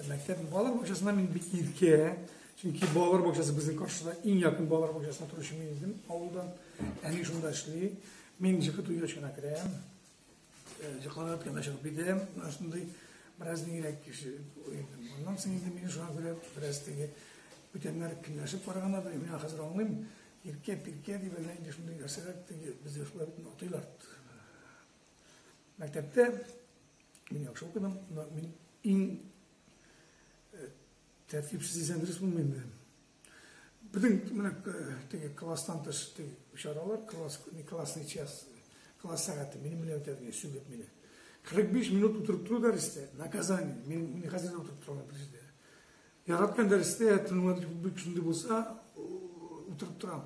Мәктәп балалар бакчасына мин бик иркә, чөнки балалар бакчасы безнең каршыда иң якын балалар бакчасына торучы мин идем авылдан. Әни шунда эшли. Мин җыгы туйгач кына керәм. Җыкланып кына чыгып китәм. Шундый бераз нигрәк кеше уйдым. Моннан соң инде мин шуңа күрә бераз теге бүтәннәр көнләшеп караганда да мин хәзер аңлыйм. Иркә, пиркә дип әллә инде шундый нәрсәләр теге бездә шулай бит атыйлар. Мәктәптә мин яхшы укыдым, мин иң э, тәртипсез дисәң дөрес булмыймы? Бөтен менә э, теге класстан тыш теге чаралар, класс не классный час, класс сәгате минем белән үтәдең, сүгеп мине. 45 минут утырып тору дәрестә, наказание, мин, мин хәзер дә утырып торам дәрестә. Яраткан дәрестә, тыңлап бик шундый булса, утырып торам.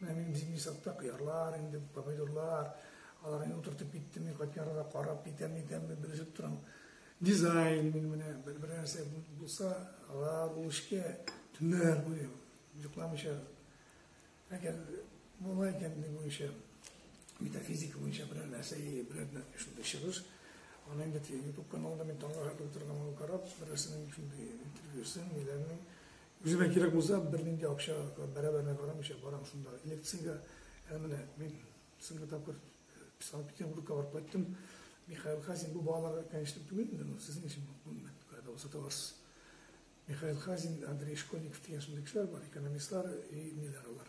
Менә минем зимний садта кыярлар, инде помидорлар, алар инде утыртып киттем, мин кайткан арада карап китәм, итәм, белешеп торам. Дизайн мин менә бер бер нәрсә булса, алар ул эшкә төннәр буе йокламыйча. Әгәр була икән ни буенча метафизика буенча берәр нәрсә, берәр шундый чыгыш, аны инде YouTube каналында мин таңга карап, берәрсенең шундый интервьюсын, ниләрнең Үземә кирәк булса, бернинди акча бәрабәренә карамыйча барам шунда лекциягә. Ә менә мин соңгы тапкыр Санкт-Петербургка барып кайттым. Михаил Хазин бу балаларга кәнешлек түгел инде, ну, сезнең өчен кая да сата аласыз. Михаил Хазин, Андрей Школьников дигән шундый кешеләр бар, экономистлар и ниләр алар.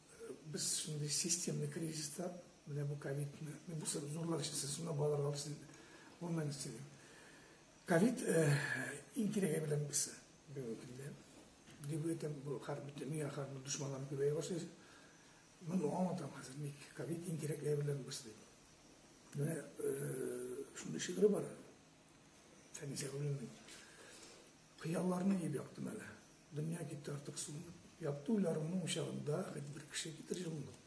Без шундый системный кризиста, менә бу ковидны, мен бу зурлар эчесе, шунда балалар алып син, онлайн эчеге. Ковид иң кирәге белән без бүгенге көндә. Дип әйтәм, бу хар бит дөнья хәрбин дошманлар күбәя башлый. Мен аңлатам хәзер, ник ковид иң кирәкле белән без дип. Менә шундый шигырь бар. Фәнисә Гөлнең. Кыялларны иеп яктым әле. Дөнья китте артык суынып. Якты уйларымның учагында Хәт бер кеше китер җылылык.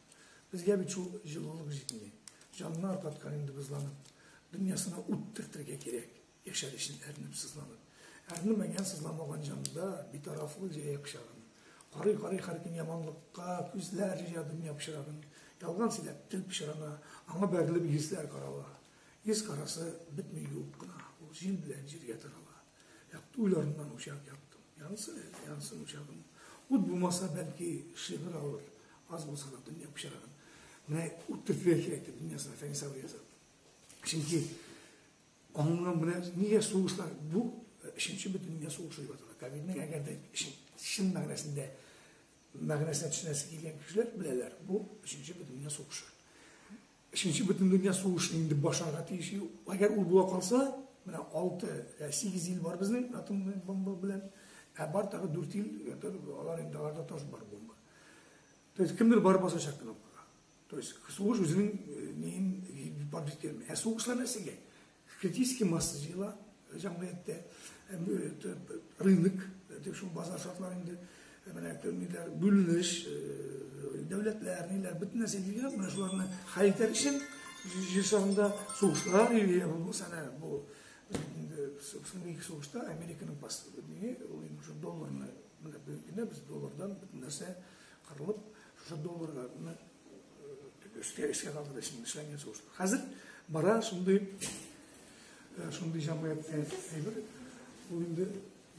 Безгә бит шул җылылык җитми. Җанны аркаткан инде бозланып. Дөньясына ут төртергә кирәк, Яшәр өчен әрнеп, сызланып. Әрнемәгән, сызламаган җанда Битарафлык җәя пычагын. Карый-карый һәркем яманлыкка, Күзләр җыя дөнья пычрагын. Ялган сөйләп, тел пычрана, Аңа бәрелеп йөзләр карала. Йөз карасы бетми юып кына, Ул җил белән җиргә тарала. Якты уйларымнан учак яктым. Янсын әле, янсын учагым. Ут булмаса, бәлки, шигырь алыр. Аз булса да дөнья пычрагын. Менә ут төртергә кирәк дип дөньясына Фәнис абый яза. Чөнки аңның белән нигә сугышлар бу өченче э, бөтен дөнья сугышы дип атала. Ковидның әгәр дә чын мәгънәсендә мәгънәсенә төшенәсе килгән кешеләр беләләр, бу өченче бөтен дөнья сугышы. Өченче бөтендөнья сугышы инде башларга тиеш. Әгәр ул була калса, менә 6 я 8 ел бар безнең атом бомба белән, ә бар тагы 4 ел, алар инде аларда тоже бар бомба. То есть кемдер бар басачак кнопкага. То есть сугыш үзенең неин бабит керми. Ә сугышлар нәрсәгә? Критически масса җыела җәмгыятьтә. Рынок, шул базар шартлары инде менә ниләр, бүленеш, дәүләтләр, ниләр, бөтен нәрсә җыелган, менә шуларны хәл итәр өчен җир шарында сугышлар йөри, булмаса әнә бу соңгы ике сугышта Американың паспорты, ул инде долларны, менә бүгенге көндә без доллардан бөтен нәрсә кырылып, Шушы долларны өскә эшкә калдырып эшен эшләнгән сугыш. Хәзер бара шундый шундый җәмгыять әйбер, ул инде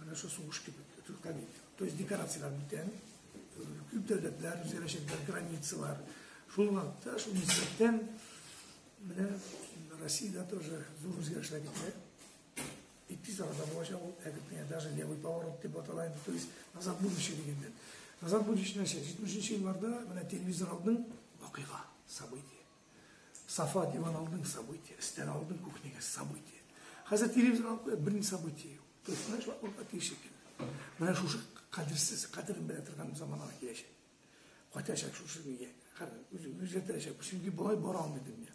менә шул сугыш кебек, Төркия. То есть декорацияләр бүтән, күп дәүләтләр, үзгәрәчәкләр, границалар. Шул вакытта, шул нисбәттән, менә Россиядә тоже зур үзгәрешләр китә. И тиз арада булачак ул әдепне даже левый поворот дип атала инде, то есть назад будущее дигәндән. Назад будущее нәрсә? 70 елларда менә телевизор алдың, вакыйга, событие. Сафа диван алдың, событие. Стен алдың, кухняга событие. Хәзер телевизор алып куеп берни событие юк. То есть менә шул вакытта тиешек. Менә шушы кадерсез, кадерен белә торган заманга киләчәк. Кайтачак шушы нигә? Хәзер үзгәртәчәк. Чөнки болай бара алмый дөнья.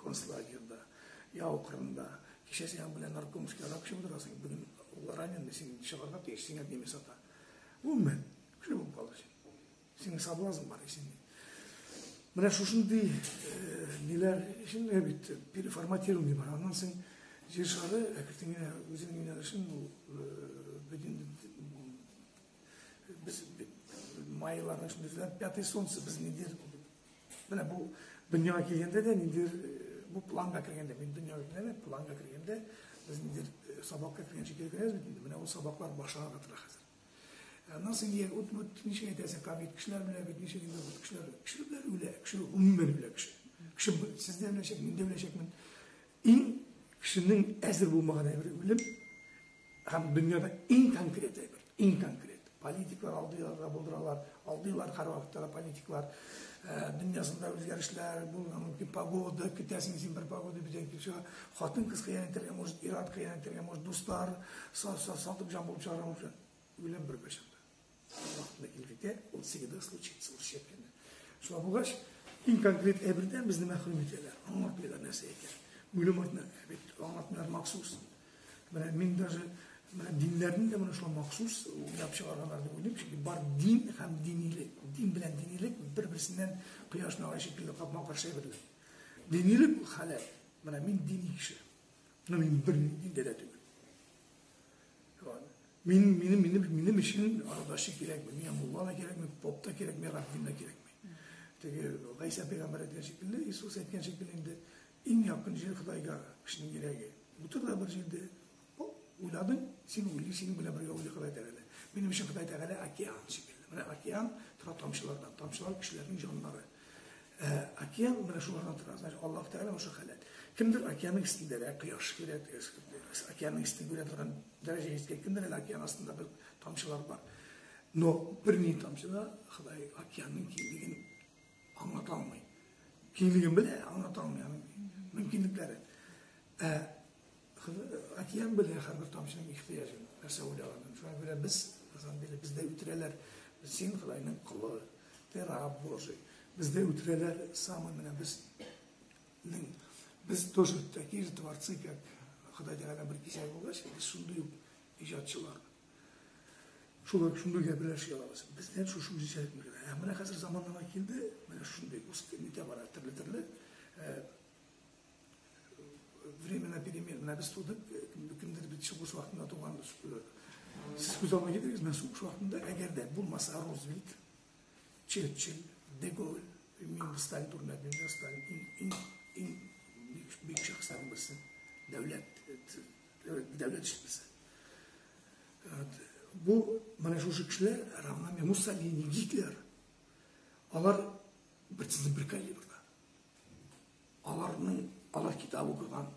концлагерьда, яу кырында. Кичә сиңа белән наркомский арак эчеп утырасың, бүген ул раненый, син чыгарга тиеш, сиңа немец ата. Гомумән, шулай булып калды син. Синең соблазн бар исең. Менә шушындый ниләр өчен бит переформатирование бар. Аннан соң җир шары әкертен генә үзенең юнәлешен ул бөтен без майларның эчендә пятый солнце без нидер Менә бу дөньяга килгәндә дә ниндидер бу планга кергәндә, мин дөньяга килгәндә, планга кергәндә без ниндидер сабакка кергән шикелле керәбез бит инде. Менә ул сабаклар башланып тора хәзер. Аннан соң егет ут бут ничек әйтәсең, кабит кешеләр белән бит ничек инде ут кешеләр, кешеләр белән үлә, кеше гомумән үлә кеше. Кеше сез дә беләчәк, мин дә беләчәкмен. Иң кешенең әзер булмаган әйбере үлем һәм дөньяда иң конкрет әйбер, иң конкрет. Политиклар алдыйлар да булдыралар, алдыйлар һәрвакытта да политиклар. Э, дөньясында үзгәрешләр булырга мөмкин, погода, көтәсең син бер погода бүтән килеп чыга. Хатын кыз кыян итәргә, может, ир-ат кыян итәргә, может, дуслар сатып җан булып чыгарга мөмкин. Үлем бер кайчан да. Вакытында килгәндә ул всегда случится, ул шипләнә. Шулай булгач, иң конкрет әйбердән безне мәхрүм итәләр. Аңлатмыйлар нәрсә икән. Үлем артына бит аңлатмыйлар махсус. Менә мин даже менә диннәрнең дә менә шул махсус уйлап чыгарганнар дип уйлыйм, чөнки бар дин һәм динилек. Дин белән динилек бер-берсеннән кояш нуры шикелле капма-каршы әйберләр. Динилек халәт. Менә мин дини кеше. Но мин бер диндә дә түгел. Мин, минем, минем, минем өчен Ардаши кирәкми, миңа мулла да кирәкми, поп та кирәкми, раббин да кирәкми. Теге Гайса пәйгамбәр әйткән шикелле, Иисус әйткән шикелле инде иң якын җир Худайга кешенең йөрәге. Утыр да бер җирдә, уйладың, син уйлый, синең белән бергә уйлый Ходай Тәгалә. Минем өчен Ходай Тәгалә океан шикелле. Менә океан тора тамчылардан, тамчылар кешеләрнең җаннары. Ә океан менә шулардан тора. Значит, Аллаһ Тәгалә ошо халәт. Кемдер океанның өстендә дә кояш килә, океанның өстендә күрә торган дәрәҗә җиткән, кемдер әле океан астында бер тамчылар бар. Но бер ни тамчы да Ходай океанның киңлеген аңлата алмый. Киңлеген белә, аңлата алмый аның мөмкинлекләре. Ә Океан белгән һәрбер тамчының ихтыяҗын, нәрсә уйлаганын. Шуңа күрә без Казан бирә, бездә үтерәләр. Син Ходаеның колы, ты раб Божий. Бездә үтерәләр самый менә безнең без тоже такие же творцы, как Ходай Тәгалә бер кисәк булгач, без шундый ук иҗатчылар. Шулай шундый гәберләр ши алабыз. Бездә шушы үзенчәлек мөмкин. Ә менә хәзер заманнама килде, менә шундый үсте, нитә бара, төрле-төрле. Э, Временно беременна без тудык, кемдер бит сугыш вакытында туган Сез күз алдына китерегез, мен сугыш вакытында, әгәр дә булмаса Рузвельт, Черчилль, Деголь, мин Сталин турында белмим, Сталин иң иң иң бик шәхестән берсе, дәүләт дәүләт эшчесе. Бу менә шушы кешеләр равнами Муссолини, Гитлер. Алар бер калибрда. Аларның, алар китап укыган,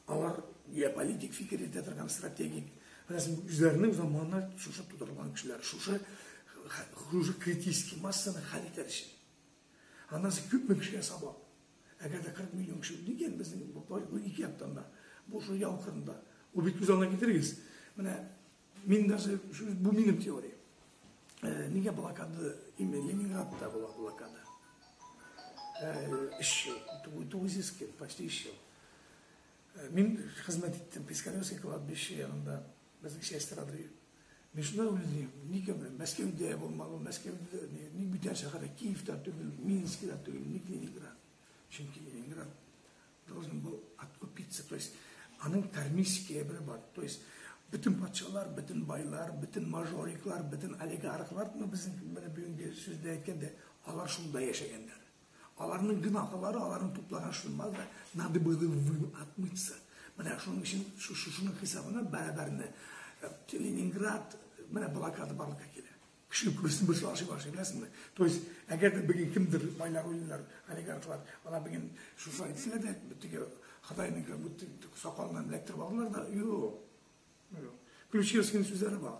алар геополитик фикер итә торган стратегик. Үзләренең заманына шушы тудырылган кешеләр, шушы хуже критический массаны хәл итәр өчен. Аннан соң күпме кешегә сабак. Әгәр дә 40 миллион кеше үлгән безнең бу ике яктан да, бу шул яу кырында. Ул бит күз алдына китерегез. Менә Мин даже, бу минем теория. Э, нигә блокада, именно Ленинградта була блокада. Эш ел, 900 кем, почти эш ел. Мин хезмәт иттем Пискаревский кладбище янында, безнең часть адрес. Мин шунда уйлыйм, нигә белән Мәскәүдә булмагы, Мәскәүдә, ник бүтән шәһәрдә Киевта түгел, Минскида түгел, ник Ленинград? Чөнки Ленинград Должен был откупиться, то есть аның кармический әйбере бар. То есть бөтен патшалар, бөтен байлар, бөтен мажориклар, бөтен олигархлар, ну безнең менә бүгенге сүздә әйткәндә, алар шунда яшәгәннәр. Аларның гөнаһлары, аларның туплаган шулмаз да, надо было вы отмыться. Менә шуның өчен шуның хисабына бәрабәрне э, Ленинград менә блокада барлыкка килә. Кеше күрсен бер шулар шулар сөйләсенме? То есть, әгәр дә бүген кемдер байлар уйлыйлар, олигархлар, ана бүген шушы әйтсә дә, битеге Хатайның кем бит сакалыннан электр алдылар да, юк. Ключевскийның сүзләре бар.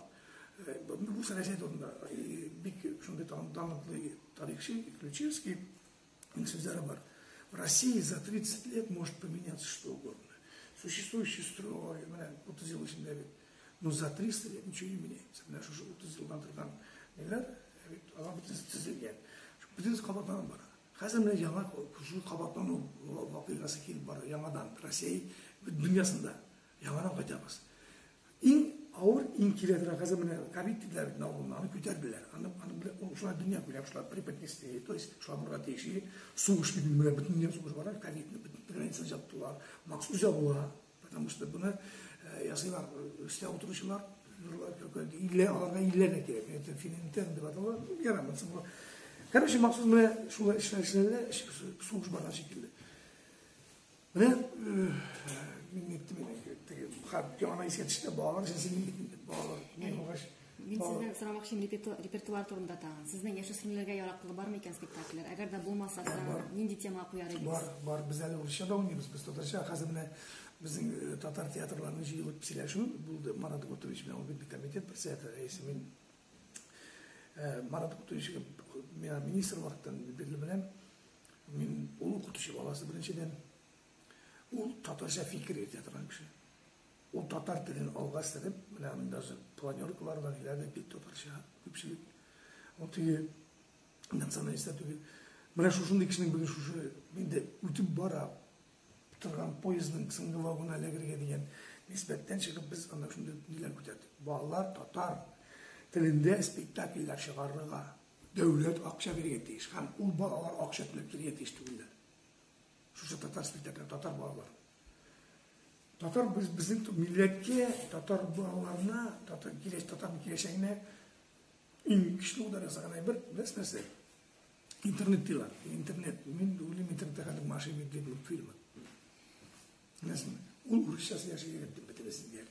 Э, бу сәясәт турында э, бик шундый талантлы тарихчы Ключевский Сүзләре бар. В России за 30 лет может поменяться что угодно. Существующий строй, менә 30 ел эчендә бит. Но за 300 лет ничего не меняется. Менә шушы 30 елдан торган ниләр, бит, алар бит төзелгән. Бүтән кабатланып бара. Хәзер менә яңа шул кабатлану вакыйгасы килеп бара, яңадан Россия дөньясында. Яңадан кайтабыз. Иң авыр, иң кирәк рәхәзә менә ковид диделәр бит авылына, аны күтәрделәр. Аны аны белән ул шулай дөнья күрә, шулай преподнесли, то есть шулай булырга тиеш. И сугыш бит менә бөтен дөнья сугыш бара, ковидны бөтен граница җаптылар. Махсус җабыла, потому что буны э, ясыйлар, өстә утыручылар, нурлар көлкәлде. Илле аларга илле дә кирәк. Это финентен дип аталар. Ярамый соңга. Короче, махсус менә шулай эшләр эшләде, сугыш барган шикелле. Менә мин әйттем инде, теге хат янына искә төште, балалар өчен син балалар, мин булгач. Мин сездән сорамакчы репертуар турында тагын. Сезнең яшүсмерләргә яраклы бармы икән спектакльләр? Әгәр дә булмаса, нинди тема куяр идегез? Бар, бар, без әле урысча да уйныйбыз, без татарча хәзер менә Біздің э, татар театрларының жиылып сөйләшү болды марат гутович менен ул комитет председатель рәисе мен э, марат гутовичке миңа министр вакыттан белгілі білем Мин ул укытучы баласы беренчедән. Ул татарча фикер йөртә торган кеше. Ул татар телен алга сырып, менә даже планеркалар бар, ниләр бит татарча күпчелек. Ул теге националистта түгел. Менә шушындый кешенең бүген шушы инде үтеп бара торган поездның соңгы вагонына эләгергә дигән нисбәттән чыгып без ана шундый ниләр күтәрдек. Балалар татар телендә спектакльләр чыгарырга, Дәүләт акча бирергә тиеш һәм ул балалар акча түләп йөрергә тиеш түгелләр. Шушы татар спектакле татар балалар. Татар без безнең милләткә, татар балаларына, татар киләч татар киләчәгенә иң көчле удар ясаган әйбер без нәрсә? Интернет диләр. Интернет. Мин уйлыйм интернетта хәзер мошенник дип фильм. Нәрсә? Ул урысчасы яши дип бетересен дияр.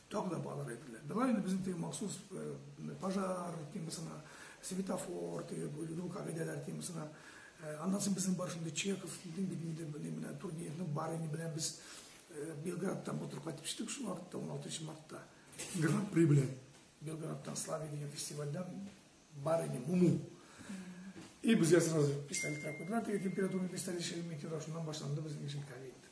Тагы да барлар әйберләр. Миңа инде безнең теге махсус э, пожар темасына, светофор, теге юл кагыйдәләр темасына. Э, аннан соң безнең бар шундый Чехов, Лидин бит инде менә менә Тургеневның бар ине белән без э, Белградтан мотор кайтып төштек шул вакытта 16 мартта. Гран-при белән. Белградтан Славия дигән фестивальдә бар ине Муму. И безгә сразу пистолет куйдылар, теге температурный пистолет шелми тираж, шуннан башланды безнең эшем кәбит.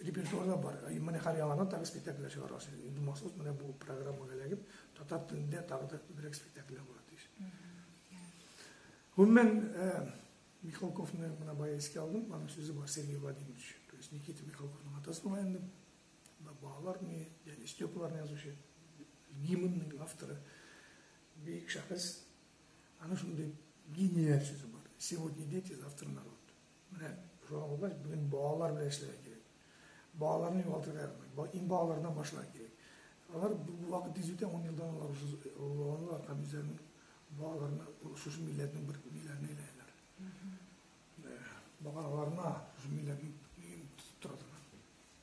репертуарда бар. Менә һәр яңадан тагы спектакльләр чыгарга син. Инде махсус менә бу программага эләгеп, татар телендә тагы да күбрәк спектакльләр булыр тиеш. Гомумән, Михалковны менә бая искә алдым, аның сүзе бар Сергей Владимирович. То есть Никита Михалковның атасы була инде. Балалар не, дядя Степаларны язучы, гимнның авторы. Бик шәхес. Аның шундый гениаль сүзе бар. Сегодня дети, завтра народ. Менә шуңа күрә бүген балалар белән эшләргә кирәк. Балаларны югалтырга ярамый. Иң балалардан башларга кирәк. Алар бу вакыт тиз үтә, 10 елдан алар уже олылар һәм үзләренең балаларына шушы милләтнең бер милләтенә әйләнәләр. Бага аларына шушы милләтнең тотып тора торган.